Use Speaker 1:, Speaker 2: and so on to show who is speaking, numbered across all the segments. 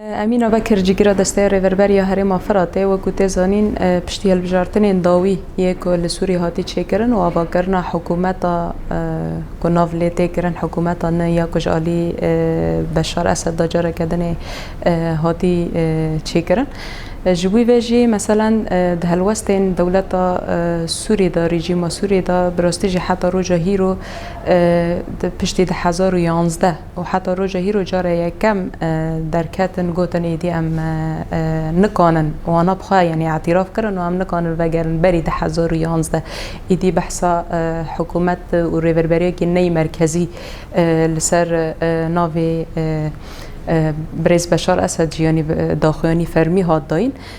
Speaker 1: Emîna Bekir cîgira Desteya Rêverberî ya Herêma Firatê wekû tê zanîn piştî hilbijartinên dawî yê ku li Sûrî hatî çêkirin û avakirina hikûmeta ku nav lê tê kirin hikûmeta nû ya ku ji alî Beşar Esed da careke din ê hatî çêkirin ji wî ve jî meselen di helwestên dewleta Sûrî da rejîma Sûrî da bi rastî jî heta roja hîro piştî di hezar û yazdeh û heta roja hîro cara yekem derketin gotin êdî em nikanin wana bi xwe yanî îtîraf kirin û em nikanin vegerin berî du hezar û yazdeh êdî behsa hikûmet û rêveberiyekî neyî merkezî li ser navê Birêz Beşar Esed jî yanî daxuyanî fermî hat dayîn.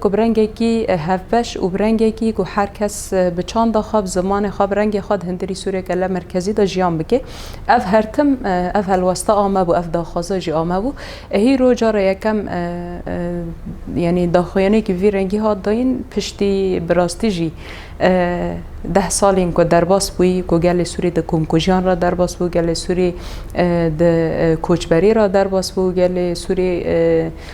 Speaker 1: ku bi rengekî hevbeş û bi rengekî ku her kes bi çanda xwe, bi zimanê xwe, bi rengê xwe di hindirî Sûriyê Kelle Merkezî de jiyan bike. Ev her tim, ev helweste a me bû, ev daxwaza jî a me bû. Êhî roj cara yekem yanî daxuyanekî vî rengî hat dayîn piştî bi rastî jî deh salên ku derbas bûyî ku gelê Sûrî di komkujiyan re derbas bû, gelê Sûrî di koçberî re derbas bû, gelê Sûrî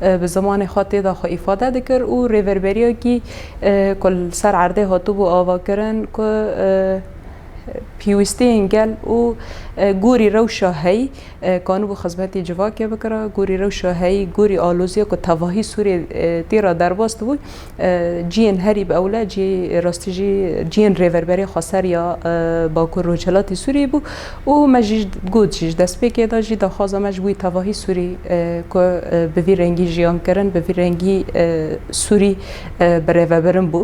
Speaker 1: bi zimanê xwe tê de xwe îfade dikir û rêverberiyekî ku li ser erdê hatibû avakirin ku pîwistiyên gel û gorî rewşa heyî kanibû xizmetê civakê bikira, gorî rewşa heyî, gorî aloziya ku tevahî Sûriyê tê re derbas dibû. Ciyên herî bi ewle cî rastî jî ciyên Rêverberê Xweser ya Bakur Rojhilatê Sûriyê bû û me jî got jî ji destpêkê de jî daxwaza me ji wî tevahî Sûrî ku bi vî rengî jiyan kirin bi vî rengî Sûrî bi rêvebirin bû.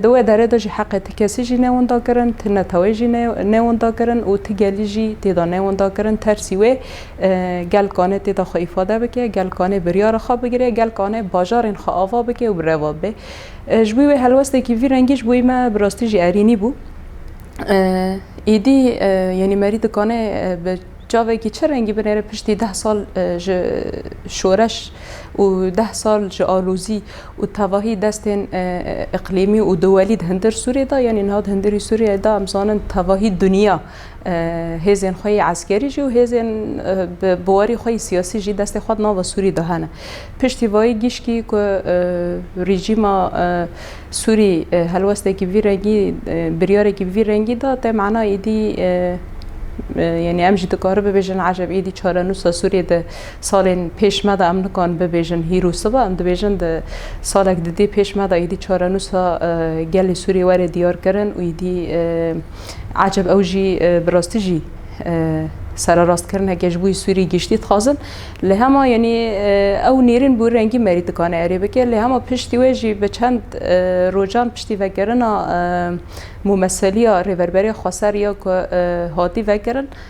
Speaker 1: Di wê derê de jî heqê ti kesî jî ne winda kirin, ti neteweyê jî ne winda kirin û ti gelî jî tê de ne winda kirin tersî wê Gel kane têda xwe îfade bike, gel kane biryara xwe bigire, gel kane bajarên xwe ava bike û bi reva bibe. Ji bo wê helwesteke vî rengî ji bo me bi rastî jî erînî bû. Êdî yanî Merî dikane bi çavekî çi rengî binêre piştî deh sal ji şoreş û deh sal ji alozî û tevahî destên îqlîmî û dowelî di hindir Sûriyê de yanî niha di hindirî Sûriyê de em zanin tevahî dinya. Hêzên xwe yê eskerî jî û hêzên bi biwarî xwe yê siyasî jî destê xwe di nava Sûrî de hene. Piştî vayî gişkî ku rejîma Sûrî helwestekî vî rengî biryarekî vî rengî da tê mena êdî yanî em jî dikarin bibêjin eceb êdî çarenûsa Sûrî di salên pêş me de em nikan bibêjin hîr û siba em dibêjin di salek di dê pêş me de êdî çarenûsa gelê Sûrî were diyarkirin û êdî Aceb ew jî bi rastî jî sererastkirneke ji bo Sûrî giştî dixwazin. Li hema yanî ew nêrîn bû rengî merî dikane erê bike. Lê hema piştî wê jî bi çend rojan piştî vekirina mûmeseliya rêverberê xweser ya ku hatî vekirin,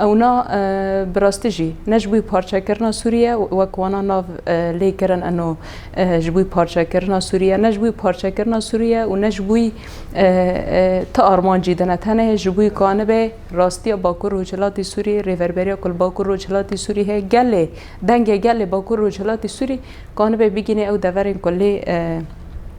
Speaker 1: Ewna bi rastî jî ne ji bo parçekirina Sûriye wek wana nav lê kirin eno ji bo parçekirina Sûriye ne ji bo parçekirina Sûriye û ne ji bo ti armancî dine tenê ji bo ka nibe rastiya Bakur Rojhilatê Sûrî rêverberiya ku li Bakur Rojhilatê Sûrî heye gelê dengê gelê Bakur Rojhilatê Sûrî ka nibe bigînê ew deverên ku lê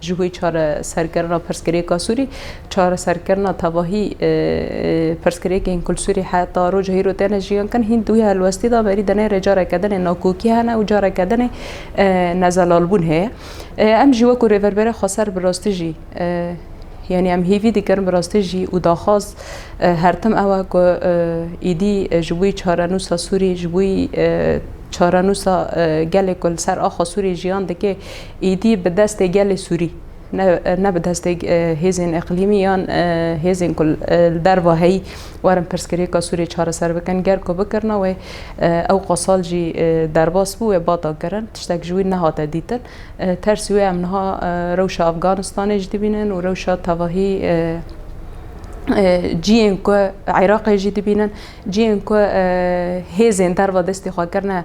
Speaker 1: Ji bo çareserkirina pirsgirêka Sûrî, çareserkirina tevahî pirsgirêkên ku li Sûrî heta roja hîro têne jiyan kirin, hîn di wî helwestî de berî di nêrê careke din ê nakokî hene û careke din ê nezelalbûn heye. Em jî wekû Rêverberê Xweser bi rastî jî yanî em hêvî dikirin bi rastî jî û daxwaz her tim ew e ku êdî ji bo çarenûsa Sûrî, ji bo çarenûsa gelê ku li ser axa Sûrî jiyan dike, Êdî bi destê gelê Sûrî ne ne bi destê hêzên îqlîmî yan hêzên ku li derva heyî werin pirsgirêka Sûriyê çareser bikin. Ger ku bikirine wê ew qasal jî derbas bû wê bata kirin. Tiştek ji wî nehate dîtin. Tersî wê em niha rewşa Afganistanê jî dibînin û rewşa tevahî ciyên ku Iraqê jî dibînin. Ciyên ku hêzên derva destê xwe kirine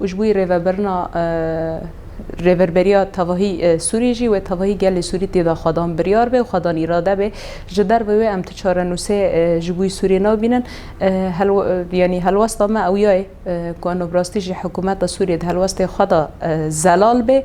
Speaker 1: û ji bo rêvebirina Rêverberiya Tevahî Sûrî jî wê tevahî gelê Sûrî tê de xwedan biryar bê û xwedan îrade bê. Ji dervê wê em tu çarenûsê ji bo Sûrî nabînin. Yanî helwesta me ew ya ye ku nûbrastî ji hikûmeta Sûrî di helwestê xwe de zelal bê.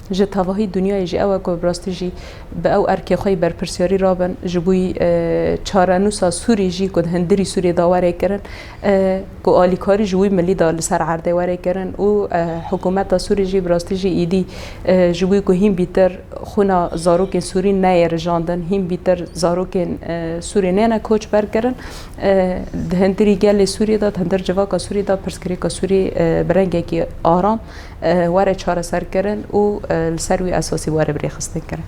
Speaker 1: Ji tevahî dinyayê jî ew e ku bi rastî jî bi ew erkê xwe yî berpirsyarî rabin. Ji bo çarenûsa Sûrî jî ku di hundirî Sûriyê de were kirin, ku alîkarî ji wî milî de li ser erdê were kirin û hikûmeta Sûrî jî bi rastî jî êdî ji bo ku hîn bîtir xwîna zarokên Sûrî neyê rijandin, hîn bîtir zarokên Sûrî neyêne koçber kirin, di hundirî gelê Sûriyê de, di hundir civaka Sûrî de pirsgirêka Sûrî bi rengekî aram, were çareserkirin û li ser wî esasî were birêxistinkirin.